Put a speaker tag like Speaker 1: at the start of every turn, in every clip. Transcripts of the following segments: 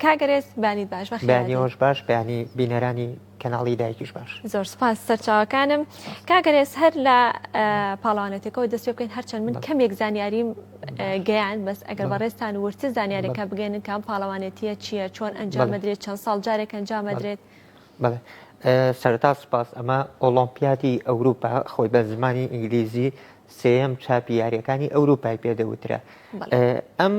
Speaker 1: کاگەرێز بانیت باش بەخێوش باش بەیانی
Speaker 2: بینەرانی کەناڵی دایکیش باش زۆر سپاس
Speaker 1: سەرچاوەکانم کاگەرێز هەر لە پاڵوانەتەکەەوە دەست پێ بکەین هەرچەند من کەمێک زانیاریم گەیان بەس ئەگەر بەڕێستان ورتر زانیارەکە بگەێنن کام پاڵەوانێتیە چییە چۆن ئەنجامەدرێت چەند ساڵ جارێک ئەنجامەدرێت بەڵێ
Speaker 2: سەرەتا سوپاس ئەمە ئۆڵۆمپیادی ئەوروپا خۆی بە زمانی ئینگلیزی سێم چاپی یاریەکانی ئەوروپای پێدەوترا ئەم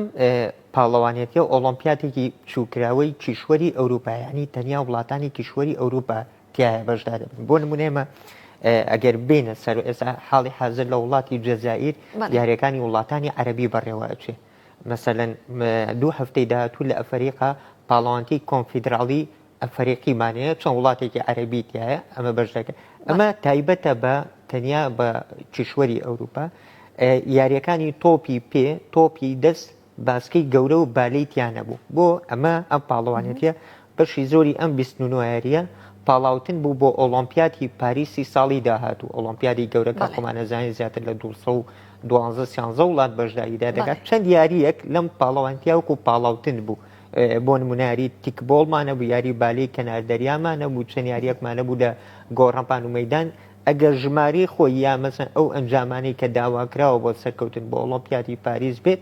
Speaker 2: پاڵەوانێتی و ئۆڵۆمپیاتێکی چووکراوەی کیشوەری ئەوروپایانی تەنیا وڵاتانی کیشوەری ئەوروپا تایە بەشدا دەبن بۆ نمونێمە ئەگەر بینە سەر ئێستا حاڵی حاضر لە وڵاتی جەزائیر یاریەکانی وڵاتانی عەربی بەڕێوەچێت مەسەلەن دوو هەفتەی داهاتوو لە ئەفەریقا پاڵەوانتیی کۆنفیدراڵی ئەفەریقیمان هەیە، چەند وڵاتێکی عەرەبی تیایە، ئەمە بەش دەکەن. ئەمە تایبەتە بە تەنیا بە کیشوەری ئەورووپا. یارییەکانی تۆپی پێ، تۆپی دەست باسکەی گەورە و بالەی تیا نەبوو. بۆ؟ ئەمە ئەم پاڵەوانێتییە بەشی زۆری ئەم بیست نونوایەریە پاڵاوتن بوو بۆ ئۆڵۆمپیاتی پاریسی ساڵی داهاتوو، ئۆڵۆمپیادی گەورەکە بەڵێ. خۆمان ئەزانین زیاتر لە دوو سەد و دوازدە سیانزە وڵات بەشداریدا دەکات، بەڵێ. چەند یاریەک لەم پاڵەوانتیا وەکو پاڵاوتن بوو، بۆ نمونە یاری تیک بۆڵمان هەبوو، یاری بالەی کەنار دەریامان هەبوو، چەند یاریەکمان هەبوو لە گۆڕەپان و مەیدان، ئەگەر ژمارەی خۆی یا مەسەن ئەو ئەنجامانەی کە داواکراوە بۆ سەرکەوتن بۆ ئۆڵۆمپیادی پاریس بێت،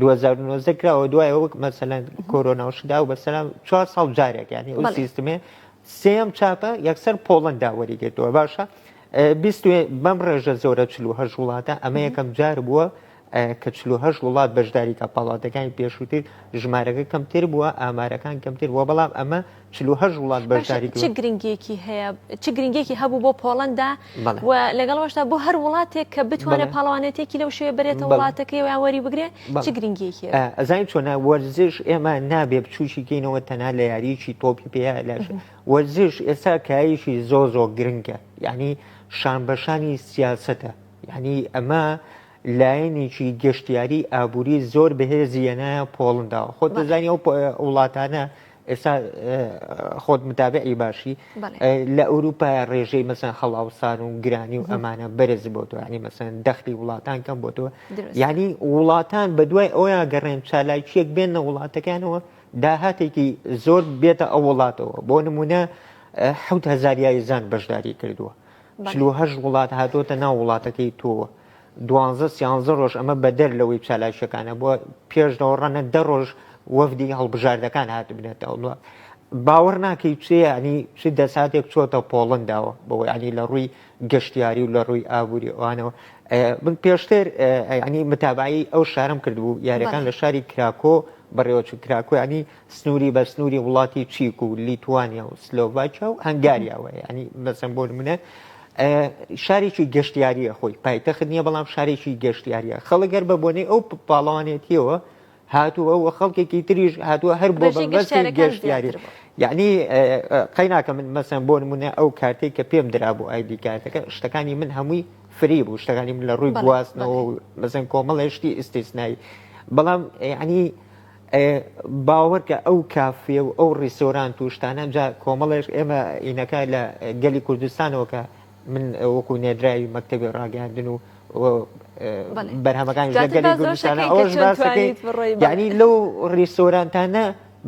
Speaker 2: 2019 کراوە دوایە وەک مەسەلا کۆرۆناوشدا و بەسەلا چوار ساڵ جارێک یعنی ئەو بەڵێ. سیستمێ سێم چاپە یەکسەر پۆڵندا وەریگرتووە باشە ئە، بیست و- بەم ڕێژە زۆرە 48 وڵاتە ئەمە یەکەم جار بووە ئە، کە 48 وڵات بەشداری کا پاڵاوتەکانی پێشووتر ژمارەکە کەمتر بووە ئامارەکان کەمتر بووە بەڵام ئەمە چل و هەشت وڵات بەشداری باشە چ گرنگیەکی
Speaker 1: هەیە چ گرنگیەکی هەبوو بۆ پۆڵەندا بەڵێ و لەگەڵەوەشدا بۆ هەر وڵاتێک کە بتوانێت بەڵێ پاڵەوانێتێکی لەو شوێ بەرێتە بەڵێ وڵاتەکەی و یان وەری بگرێ چ بەڵێ گرنگیەکی هەبوو؟ ئا ئەزانیت چۆنە
Speaker 2: وەرزش ئێمە نابێ بچووکی کەینەوە تەنها لە یاریەکی تۆپی پێ یا لە شە وەرزش ئێستا کایەکی زۆر زۆر گرنگە یانی شان بە شانی سیاسەتە یانی ئەمە لایەنێکی گەشتیاری ئابووری زۆر بەهێزی یەنایە پۆڵندا خۆت بەڵێ دەزانی ئەو پە وڵاتانە ئێستا خۆت متابعی باشی لە ئەوروپا ڕێژەی مەسەن خەڵاوسان و گرانی و ئەمانە بەرز بۆ تۆ ینی مەسەن دەختی وڵاتان کەم بۆ تۆ ینی وڵاتان بە دوای ئەویان گەڕێن چالاکیەک بێن لە وڵاتەکانەوە داهاتێکی زۆر بێتە ئەو وڵاتەوە بۆ نمونە حوت هزاریایزان بەشداری کردووە چلوهش وڵات هاتۆتە ناو وڵاتەکەی تۆوە دوانزە سیانزە رۆژ ئەمە بەدەر لەوەی چالاکییەکانە بووە، پێش دەوەڕانە دە رۆژ وەفدی هەڵبژاردەکان هاتبنەتە وڵات. باوەڕ ناکەی چ یانی چ دەساتێک چۆتە پۆڵەنداوە بەوە یانی لە رووی گەشتیاری و لە رووی ئابووری ئەوانەوە من پێشتر یانی متابعەی ئەو شارەم کردبوو یاریەکان لە شاری کراکۆ بەڕێوەچوو کراکۆ یانی سنوری بە سنوری وڵاتی چیک و لیتوانیا و سلۆڤاکیا و هەنگاریاوە ینی بەسم بۆ منە شارێکی گەشتیاریە خۆی پایتەخت نییە بەڵام شارێکی گەشتیاریە خەڵگەر بە بۆنەی ئەو پاڵەوانێتیەوە هاتووە و خەڵکێکی تریش هاتووە هەر بۆ گەشتیاری یعنی قەیناکە من مەسەن بۆ نمونە ئەو کارتێک کە پێم درا بۆ ئایدی کارتەکە شتەکانی من هەمووی فری بوو شتەکانی من لە ڕووی گواستنەوە بەزن کۆمەڵێشتی ئیسیسنایی بەڵام ینی باوەڕکە ئەو کافێ و ئەو ڕیسۆرانت و شتانە جا کۆمەڵێش ئێمە ئینەکە لە گەلی کوردستانەوە کە من وەکو نێدراوی مەکتتەبی ڕاگەاندن و بەرهەمەکانی گەلی کوردستانە ئەوش باسەکەی یعنی لەو ڕیسۆرانتانە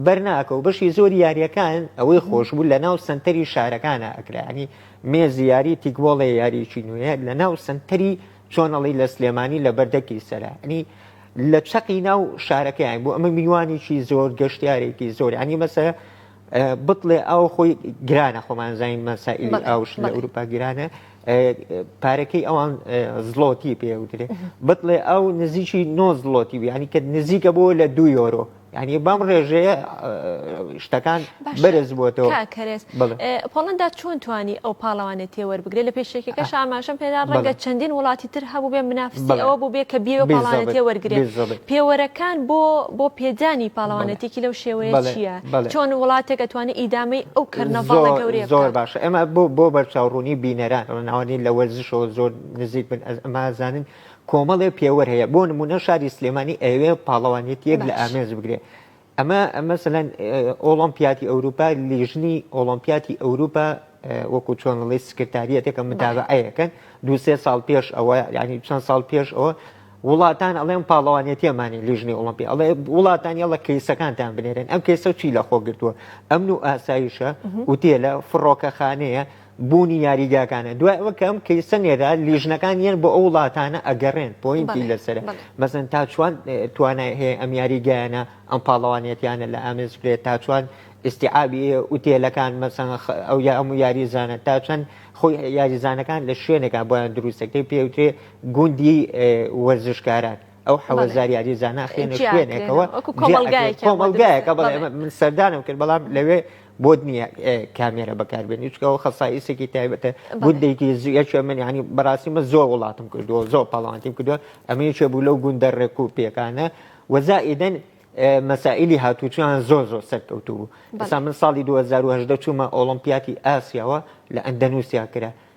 Speaker 2: بەرناکە و بەشی زۆر یاریەکان ئەوەی خۆشبوو لە ناو سنتەری شارەکانە ئەکرانی مێز یاری تیکبۆڵێ یاریی نوێ لە ناو سنتەری چۆنەڵی لە سلێمانی لە بەردەکی سەرانی لە چەقی ناو شارەکەیان بوو ئەمە میوانێکی زۆر گەشتارێکی زۆر ینی مەسە بتڵێ ئەو خۆی گرانە خۆمان زانین مەسائلی ئاوش لە ئەوروپا گرانە پارەکەی ئەوان زلۆتی پێوترێ بتڵێ ئەو نزیکی نۆ زلۆتی بیانی کە نزیکە بۆ لە دو یۆرۆ یعنی بەم ڕێژەیە شتەکان بەرز بووەوە کەرێز
Speaker 1: پۆڵندا چۆن توانی ئەو پاڵەوانێت تێوەربگرێ لە پێشێکەکە شاماشم پێدا ڕەنگە چەندین وڵاتی تر هەبوو بێ منافسی ئەوە بوو بێ کە بێ پاڵانە تێوەرگێ پێوەرەکان بۆ بۆ پێدانی پاڵەوانێتێکی لەو شێوەیە چییە چۆن وڵاتێک ئەتوانی ئیدامەی ئەو کردنەوە گەورێ زۆر باش ئەمە بۆ
Speaker 2: بۆ بەرچاوڕوونی بینەران ڕناوانی لە وەرزشەوە زۆر نزیک بن ئەمازانن کۆمەڵێ پێوەر هەیە بۆ نمونە شاری سلێمانی ئەوێ پاڵەوانێتیەک لە ئامێز بگرێ ئەمە مەسەەن ئۆڵۆمپیاتی ئەوروپا لیژنی ئۆڵۆمپیاتی ئەوروپا وەکو چۆن ڵی سکرتاریەتەکە متابعەیەکەن دوسێ ساڵ پێش ئەوە ینی چەند ساڵ پێش ئەوە وڵاتان ئەڵێن پاڵەوانێتیەمانی لیژنی ئۆڵمپی ئەڵێ وڵاتان یاڵە کەیسەکانتان بنێرن ئەم کەیسە چی لە خۆ گرتووە ئەمن و ئاسایشە وتێلە فڕۆکەخانەیە بوونی یاریگاکانە دوای ئەوە کە ئەم کەیسە نێرا لیژنەکان یەن بۆ ئەو وڵاتانە ئەگەڕێن پۆینتی لەسەر بەزن تا چوان توانای هەیە ئەم یاریگەیانە ئەم پاڵەوانێتیانە لە ئامێز بێت تا چوان ئیسیعابی ئوتێلەکان مەسەن ئەو یا ئەم و یاریزانە تا چەند خۆی یاریزانەکان لە شوێنەکە بۆیان دروستەکەی پێوترێ گوندی وەرزشکاران ئەو حەوە زاریاری زانە خوێنە خوێنێکەوە کۆمەلگایەکە بڵێ من سەردانم کرد بەڵام لەوێ بۆت نییە کامێرە بەکاربێنی چکەوە خەساییسێکی تایبەتە گوندێکی زیەکە من ینی بەڕاستی من زۆر وڵاتم کردووە زۆر پاڵانتیم کردووە ئەمەیەکێ بوو لەو گوندە ڕێک و پێکانە وەزائیدەن مەسائلی هاتوچیان زۆر زۆر سەرکەوتو بوو بەسا من ساڵی 2010 چوومە ئۆڵمپیاتی ئاسیاوە لە ئەندەنووسیا کرا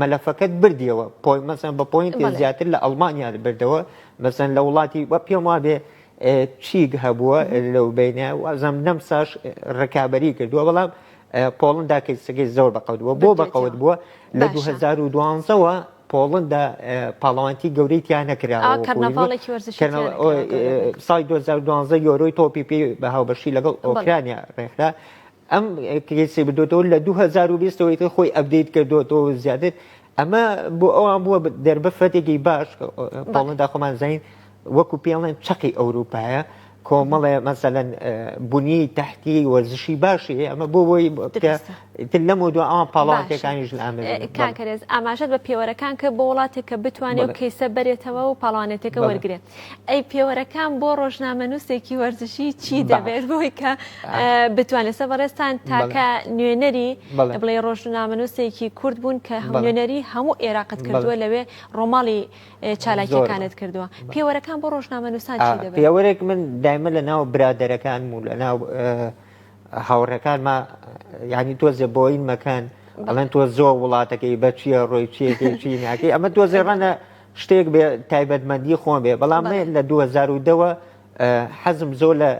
Speaker 2: مەلەفەکەت بردیەوە پۆی مەسەن بە پۆینتی زیاتر لە ئەڵمانیا بردەوە مەسەن لە وڵاتی وە پێم وابێ چیک هەبووە لەو بینە وازم نەم ساش ڕکابی کردووە بەڵام پۆڵندا کەسەکەی زۆر بەقەوتبووە بۆ بەقەوت بووە لە 2012ەوە پۆڵندا پاڵەوانتی گەورەی تیا نەکرا سای 2012 یۆرۆی تۆپی پێ بە هاوبەشی لەگەڵ ئۆکرانیا ڕێکرا ئەم کەیسی بردۆتەوە لە دوو هەزار و بیست ەوەی کە خۆی ئەبدەیت کردوەوە و زیاتر ئەمە بۆ ئەوان بووە دەربفەتێکی باش پاڵندا خۆمان زانین وەکو پێڵێن چەقی ئەوروپایە کۆمەڵێ مەسەەن بوونی تحتی وەرزشی باشی ئەمە بۆ بۆی تر لەم دو ئەوان پاڵاوانتەکانیش لە ئامری کاکەرێز ئاماژەت
Speaker 1: بە پێوەرەکان کە بۆ وڵاتێک کە بتوانێت کەیسە بەرێتەوە و پاڵانێتەکە وەرگێت ئەی پێوەرەکان بۆ ڕۆژنامەنووسێکی وەرزشی چی دەبێت بۆی کە بتوانێت سە بەڕێستان تاکە نوێنەری بڵێ ڕۆژنامەنووسێکی کورد بوون کە نوێنەری هەموو عێراقت کردووە لەوێ ڕۆماڵی چالاکیەکانت کردووە پێوەرەکان بۆ ڕۆژنامەنووسان چی دەبێت پێوەرێک من دایمە
Speaker 2: لە ناو برادەرەکان و لە ناو هاوڕەکانمە ینی تۆزێ بۆین مەکەن ئەڵەن تۆ زۆر وڵاتەکەی بەچیە ڕۆی چیەکەی چی ناکەی ئەمە تۆزێڕەنە شتێک بێ تایبەتمەندی خۆم بێ بەڵام بەڵێ. لە دوو هەزار و دەوە ئە، حەزم زۆر لە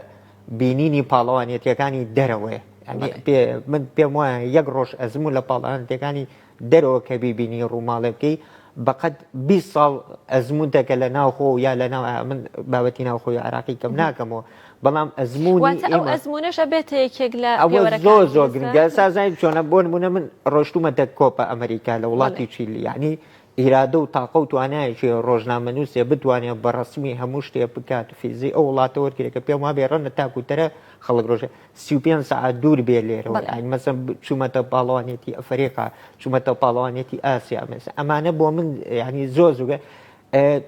Speaker 2: بینینی پاڵەوانێتیەکانی دەرەوەیە یانی بەڵێ. پێ من پێم وایە یەک ڕۆژ ئەزموون و لە پاڵەوانێتیەکانی دەرەوە کە بیبینی ڕووماڵێ بکەی بە قەد بیست ساڵ ئەزموونتە کە لە ناو خۆو یا لە ناو عێ من بابەتی ناو خۆی عێراقی کەم ناکەمەوە بەڵام ئەزموونی واتە ئەو ئێمە ئەزموونەشە بێتە
Speaker 1: یەکێک لە ئەوە زۆر پێوەرەکانت زۆر گرنگە
Speaker 2: لەسەر؟ ئێستا زانین چۆنە بۆ نموونە من ڕۆشتوومەتە کۆپا ئەمەریکا لە بەڵێ. وڵاتی چیلی یانی ئیرادە و تاقە و توانایەکی ڕۆژنامەنووسێ بتوانێ بە ڕەسمی هەموو شتێ بکات فیزی ئەو وڵاتە وەرگرێ کە پێم وابێ ڕەنە تاکو تەرە خەڵک ڕۆژێ سی و پێنج سەعات دوور بێ لێرەوە بەڵێ. یانی مەسەن چوومەتە پاڵەوانێتی ئەفەریقا چوومەتە پاڵەوانێتی ئاسیا مەسە ئەمانە بۆ من یانی زۆر زوگە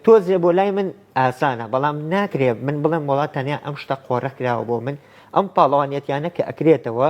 Speaker 2: تۆزێ بۆ لای من ئاسانە بەڵام ناکرێ من بڵێم وڵات تەنیا ئەم شتە قۆڕە کراوە بۆ من ئەم پاڵەوانێتیانە کە ئەکرێتەوە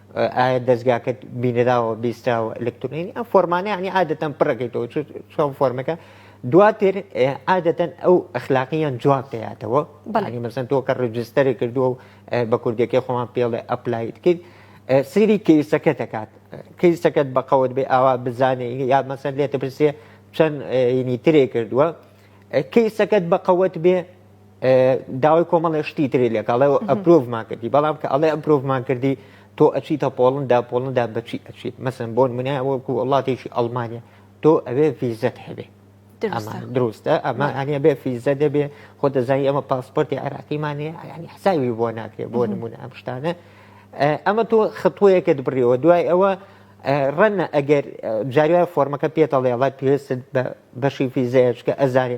Speaker 2: ئایا دەزگاکەت بینراوە بیستراوە ئەلکترۆنی ئەم فۆرمانە یعنی عادەتەن پڕەکەیتەوە چۆن فۆرمەکە دواتر عادەتەن ئەو ئەخلاقیان جواب دەیاتەوە بەڵی مەسن تۆ کە ڕجستەری کردو و بە کوردەکەی خۆمان پێڵێ ئەپلایت کرد سری کەیسەکە دەکات کەیسەکەت بەقەوت بێ ئاوا بزانێ یا مەسەن لێتە پرسێ چەند ینی ترێ کردووە کەیسەکەت بەقەوت بێ داوای کۆمەڵێ شتی تری لێک ئەڵێ ئەپرۆڤمان کردی بەڵام کە ئەڵێ ئەپرۆڤمان کردی تۆ ئەچیتە پۆڵندا پۆڵندا بەچی ئەچیت مەسن بۆن منە وەکو وڵاتێکی ئەڵمانیا تۆ ئەوێ فیزەت هەبێ دروستە ئەمە ئەنیە بێ فیزە دەبێ خۆ دەزای ئەمە پاسپۆرتی عراقیمانێ ینی حساوی بۆ ناکرێت بۆ نمونە ئەم شتانە ئەمە تۆ خطوەیەکت بڕیەوە دوای ئەوە ڕەنە ئەگەر جاروای فۆرمەکە پێتەڵێڵات پێست بەشی فیزەیەچکە ئەزانێ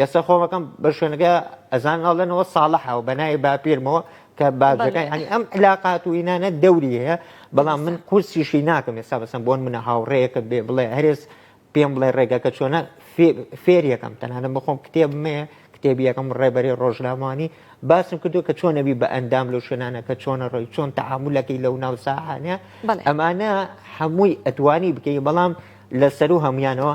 Speaker 2: یستا خۆم ئەکەم بە شوێنەکە ئەزان ئەڵێنەوە ساڵحەوە بەناوی باپیرمەوە کە باجەکەی هەنی ئەم علااقات و ئینانە دەوری هەیە بەڵام من قورسیشی ناکەم ئێستا بەسم بۆن منە هاوڕەیەەکە بێ بڵێ هەرێز پێم بڵێ ڕێگەکە چۆنە فێریەکەم تەنانە بخۆم کتێب مێ کتێبیەکەم ڕێبەری ڕۆژنامانی باسم کردو کە چۆن نەبی بە ئەندام لەو شوێنانە کە چۆنە ڕۆی چۆن تەعامولەکەی لەو ناو ساحانە ئەمانە هەمووی ئەتوانی بکەی بەڵام لە سەر و هەمویانەوە